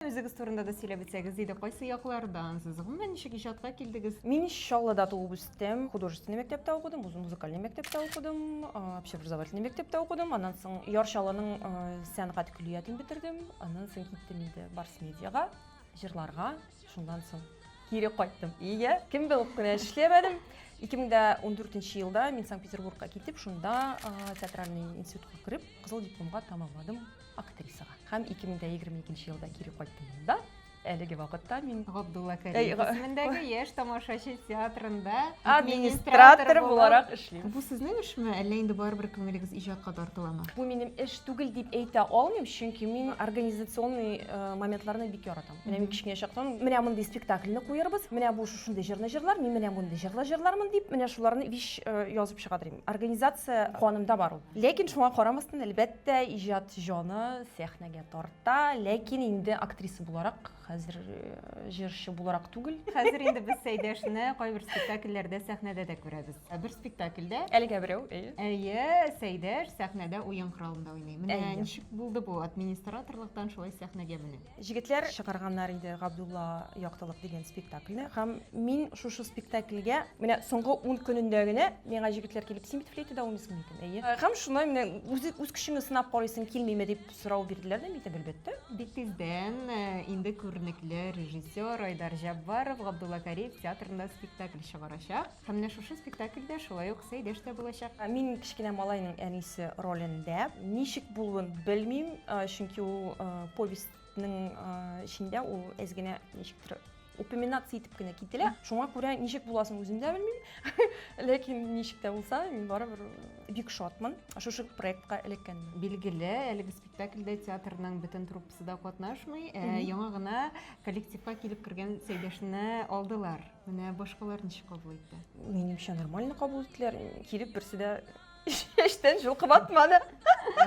Үзегез турында да сөйләп үтсәгез иде, кайсы яклардансыз? Гомумән, ничек иҗатка килдегез? Мин Чаллыда туып үстем, художественный мәктәптә укыдым, үзем музыкальный мәктәптә укыдым, общеобразовательный мәктәптә укыдым, аннан соң Яр Чаллының сәнгать көллиятен бетердем, аннан соң киттем инде Барс медиага, җырларга, шуннан соң кире кайттым. Ия, кем булып кына эшләмәдем. 2014 елда мин Санкт-Петербургка китеп, шунда театральный институтка кереп, кызыл дипломга тамамладым. актрисага. Һәм 2022 елда кире кайттым монда. Әлеге вакытта мин Габдулла Кариев исемендәге Яшь тамашачы театрында администратор буларак эшлим. Бу сезнең эшме, әллә инде барыбер күңелегез иҗатка тартыламы? Бу минем эш түгел дип әйтә алмыйм, чөнки мин организационный э, моментларны бик яратам. Менә мин кечкенә чактан менә мондый спектакльне куярбыз, менә бу шушындый җырны җырлар, мин менә мондый җырлар җырлармын дип, менә шуларны виш э, язып чыга Организация канымда бар ул. Ләкин шуңа карамастан, әлбәттә, Тә иҗат җаны сәхнәгә тарта, ләкин инде актриса буларак, хәзер җырчы буларак түгел. Хәзер инде без Сәйдәшне кайбер спектакльләрдә, сәхнәдә дә күрәбез. Бер спектакльдә. Әлегә берәү, әйе. Әйе, Сәйдәш сәхнәдә уен коралында уйный. Менә ничек булды бу администраторлыктан шулай сәхнәгә менү? Җегетләр чыгарганнар иде Габдулла яктылык дигән спектакльне һәм мин шушы спектакльгә менә соңгы ун көнендә генә миңа җегетләр килеп син бит флейтада уйныйсың микән әйе һәм шунда менә үз, үз көчеңне сынап карыйсың килмиме дип сорау бирделәр дә митеп әлбәттә. Бик тиздән инде күренекле режиссер Айдар Җәббаров Габдулла Кариев театрында спектакль чыгарачак. Һәм менә шушы спектакльдә шулай ук Сәйдәш тә булачак. Мин кечкенә малайның әнисе ролендә. Ничек булуын белмим, чөнки ул повестьның эчендә ул әз генә ничектер упоминация итеп кенә кителә. Шуңа күрә ничек буласын үзем дә белмим. Ләкин ничек тә булса, мин барыбер бик шатмын шушы проектка эләккәнемә. Билгеле, әлеге спектакльдә театрның бөтен труппасы да катнашмый, яңа гына коллективка килеп кергән Сәйдәшне алдылар. Менә башкалар ничек кабул итте? Минемчә нормально кабул иттеләр. Килеп берсе дә эштән җылкып атмады.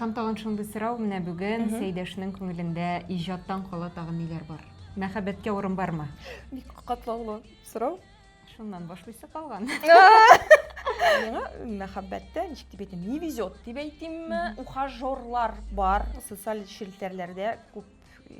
Һәм тагын шундый сорау менә бүген Сәйдәшнең күңелендә иҗаттан кала тагын ниләр бар? Мәхәббәткә урын бармы? Бик катлаулы сорау. Шуннан башлыйсы калган. Миңа мәхәббәттә ничек дип әйтим, не везет дип әйтимме, ухажерлар бар, социаль челтәрләрдә күп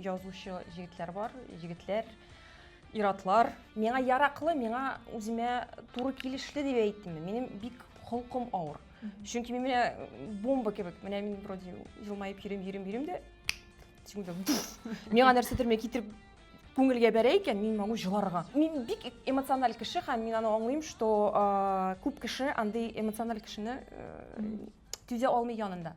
язучы җегетләр бар, егетләр Иратлар. Миңа яраклы, миңа үземә туры килешле дип әйттемме? Минем бик холкым авыр. Чөнки мин менә бомба кебек, менә мин вроде елмаеп йөрим, йөрим, йөрим дә секунда. Миңа нәрсәдер мен китереп күңелгә бәрә икән, мин могу җыларга. Мин бик эмоциональ кеше һәм мин аны аңлыйм, что күп кеше андый эмоциональ кешене түзә алмый янында.